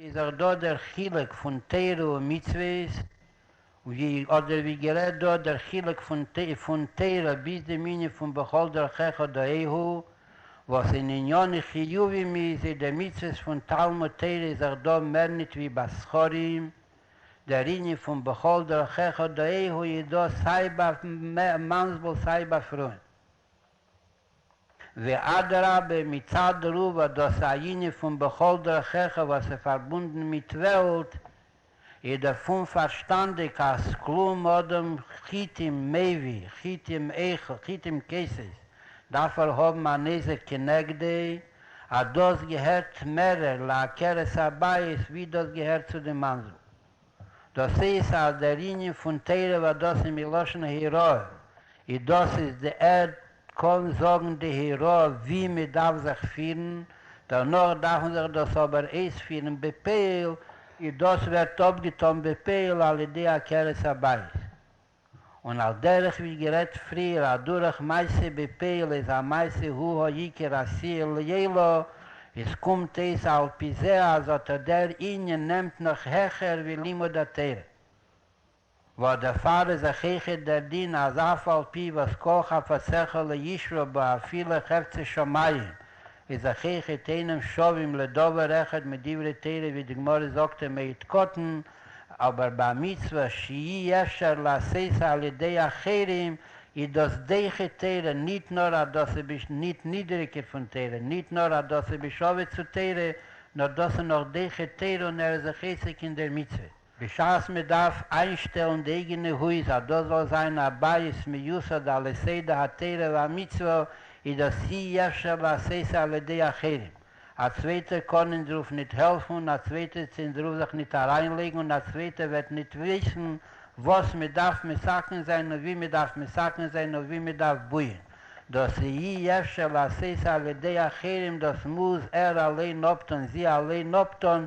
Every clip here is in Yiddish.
איז דאך דא דער חילוק פון תורה און מצוות, ווי אדער ווי גערעדט דא דער חילוק פון תורה ביז די מנין פון בכל דרכיך דאהייהו, וואס אין ענייני חיובים איז איז די מצוות פון תלמוד תורה איז דאך דא מער ניט ווי ביי זכרים, דער ענין פון בכל דרכיך דאהייהו איז דא סיי ביי מאנסבול סיי ביי פרויען. ואדרבה מצד רובא דאס ענין פון בכל דרכיך וואס איז פארבונדן מיט וועלט, איז דערפון פארשטאנדיג אז כלום אדם חיטים מביא חיטים איכה חיטים כסית דארף ער האבן א נזק כנגדי, אז דאס געהערט מערער לעקרת הבית ווי דאס געהערט צו די מאנזל. דאס איז אז דער ענין פון תורה והדסה איז מלשון היראה, און דאס איז די ערד קאן זאגן די היראה ווי מען דארף זיך פירן, דערנאך דארף מען זיך דאס אבער אויספירן בפועל, און דאס ווערט אפגעטאן בפועל על ידי עקרת הבית. און על דרך ווי גערעדט פריער אדורך מעשה בפעולה איז א מעשה הוא העיקר עשיה לעילא, איז קומט אויס על פי זה אז אטא דער ענין נעמט נאך העכער ווי לימוד התורה. ועוד דערפאר איז אויך העכער דער דין אז אף על פי וואס כל חפציך לא ישרוף בו אפילו חפצי שמים, איז אחיך את אינם שווים לדבר אחד מיט דברי תורה ווי די גמרא זאגט א מעיד קטן, אבער ביי א מצוה שאי אפשר לעשותו על ידי אחרים איז דאס דעכי תורה ניט נאר אז דאס איז ביש ניט נידעריקער פון תורה ניט נאר אז דאס איז ביש עובר צו תורה נאר דאס איז נאך דעכי תורה און ער איז זיך עסק אין דער מצוה. בשעת מען דארף איינשטעלן די אייגענע הויז אז דאס זאל זיין א בית מיוסד על יסוד התורה והמצוה איז דאס אי אפשר לעשות על ידי אחרים, א צווייטער קען אונז רוף ניט העלפן און א צווייטער צו אונז רוף זיך ניט אריינלייגן און א צווייטער וועט ניט וויסן וואס מען דארף מסכן זיין און ווי מען דארף מסכן זיין און ווי מען דארף בויען, דאס איז אי אפשר לעשות על ידי אחרים דאס מוז ער אליין אפטון, זי אליין אפטון,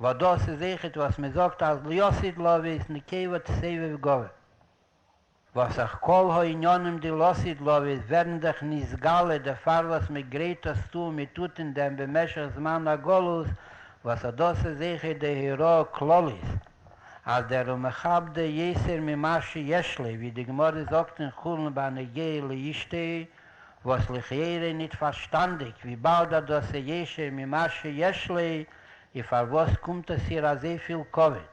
וואס דאס איז אייכעט וואס מען זאגט אז להיות איד לאווי איז נקבה תסבב גאוה, וואס אויך כל הענינים די להיות איד לאווי ווערן דאך נתגלה דערפאר וואס מען גרייט עס צו און מען טוט אין דעם במשך זמן הגלות, וואס אט דאס איז אייכעט די הוראה כללית אז דער ומכבדי יסר ממה שיש לי ווי די גמרא זאגט אין חולין בנוגע לאשתו, וואס לכאורה ניט פארשטאנדיק וויבאלד אט דאס איז ישר ממה שיש לי איז פארוואס קומט עס איר אזוי פיל כבוד?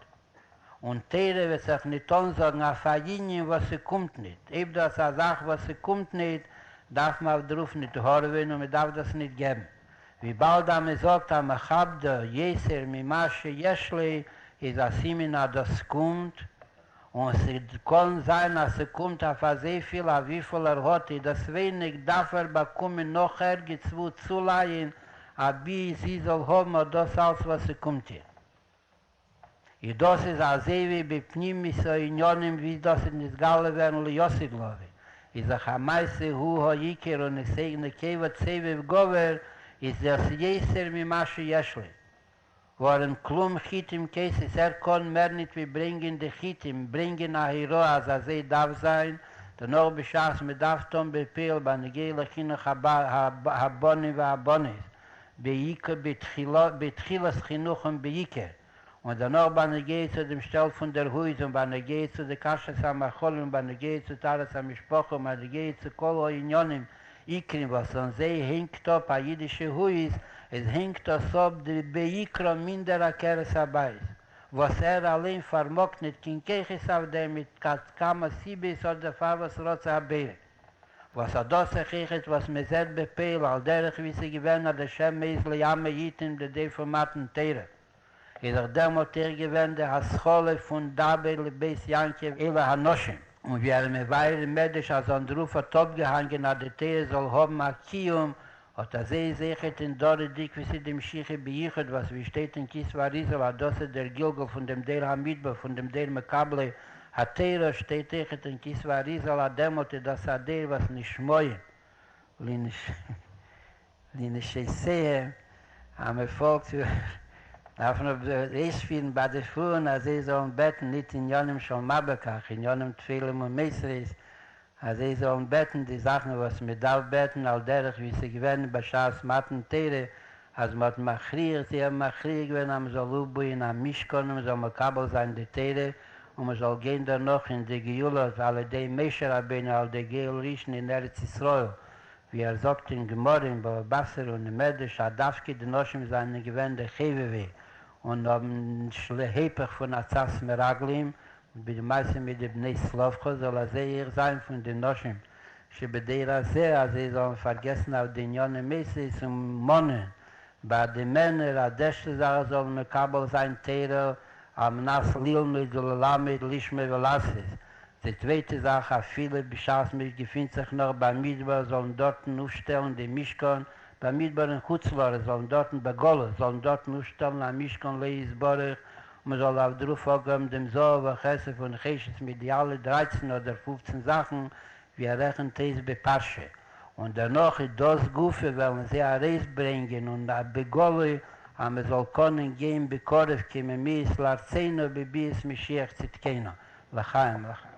און תורה וועט זיך ניט אנזאגן אויף א יניען וואס ס'קומט ניט, אויב דא איז א זאך וואס ס'קומט ניט דארף מען אויף דערויף ניט הארעווען און מ'דארף דאס ניט געבן, וויבאלד אז מ'זאגט אז מכבדו יסר ממה שיש לי איז א סימן אז דאס קומט און ס'קאָן זײַן, אַז ס'קומט אױף אַזױ פֿיל, אױף װיפֿל ער האָט, איז דאָס װײניק, דאַרף ער באַקומען נאָך ערגעץ װוּ צולײַען, אַבי זי זאָל האָבן אָט דאָס אַלץ, װאָס ס'קומט איר. איז דאָס איז אַזױ װי בפֿנימיות הענינים, װי דאָס איז נתגלה װערן ליאָסיקלאָװי, איז זיך אַ מעשׂה הוא העיקר, און עס אײגנע כּבֿוד סבֿיבֿ גובֿר, איז דאָס יעסער ממה שיש לי. ווארום כלום חיטים כסת, ער קאן מער ניט ווי ברענגען די חיטים, ברענגען א היראה אז אזוי דארף זיין, דערנאך בשעת מען דארף טאן בעפעל בנוגע לחינוך הבנים והבנות בתחילת חינוכם בעיקר, און דערנאך בנוגע צו דעם שטעל פון דער הויז און בנוגע צו די כשרות המאכלים און בנוגע צו טהרת המשפחה און בנוגע צו כל הענינים עיקרים וואס אן זיי הענגט אפ א אידישע הויז, עס הענגט עס אפ די בעיקרא מינדער עקרת הבית, וואס ער אליין פארמאגט ניט קיין כחות אויף דעם מיט כת כמה סיבות אדער פארוואס רצה הבעלים וואס האט דאס כחות וואס מען זעט בפועל על דרך ווי ס'איז געווען אז לשם מעיז ליעמי איתים די דעה פון מתן תורה איז דאך דערמאלט איך געווען די השכלה פון דבר לבית יעקב אלה הנשים, און ווי ארום מבאר אין מדרש אז אנדרוף האט אפגעהאנגען אז די תורה זאל האבן א קיום, אט אזוי איז אויכעט אין דורי דקבסי די משיחי ביחוד וואס ווי שטייט אין כ ס ואריזל אז דאס איז דער גלגול פון דעם דור המדבר פון דעם דור מקבלי התורה, שטייט אויכעט אין כ ס ואריזל אז דערמאלט איז דאס א דור וואס נשמעים לנש. די נשעיסעע אז מען פאלגט דארף מען אויספירן ביי די פארן אז זיי זאלן בעטן ניט עניינים של מה בכך עניינים טפלים ומוסרית אז זיי זאלן בעטן די זאכן וואס מען דארף בעטן על דרך ווי עס איז געווען בשעת מתן תורה אז מען האט מכריח זיי האבן מכריח געווען אז מען זאל אויפבויען א משכן און מען זאל מקבל זיין די תורה און מען זאל גיין דערנאך אין די גאולות על ידי משה רבינו על ידי גואל ראשון אין ארץ ישראל ווי ער זאגט אין גמרא אין בבא בסר און אין מדרש אז דווקא די נשים זיינען געווען די חובבי און האבן נישט להיפך פון עצת מרגלים, ווי די מעשה מיט די בני צלפחד, זאל א זעה איך זיין פון די נשים שבדור הזה אז זיי זאלן פארגעסן אויף די עניני מעשיות און מאנען ביי די מענער אז דעשטע זאך זאלן מקבל זיין תורה על מנת ללמוד וללמד לשמוע ולעשות. די צווייטע זאך, אפילו בשעת מען געפינט זיך נאך במדבר זאלן דארטן אויפשטעלן די משכן, במדבר אין חוץ לארץ זאלן דארטן, בגלות זאלן דארטן אויפשטעלן א משכן לה' יתברך, און מען זאל אויף דערויף אפגעבן דעם זהב וכסף און חשת מיט די אלע דרייצן אדער פופצן זאכן, ווי ער רעכנט אויס בפרשה, און דערנאך איז דאס גופא וועלן זיי ארויסברענגען און בגלוי אז מען זאל קענען גיין בקרוב כי ממיאס לארצינו בביאת משיח צדקינו לחיים לחיים.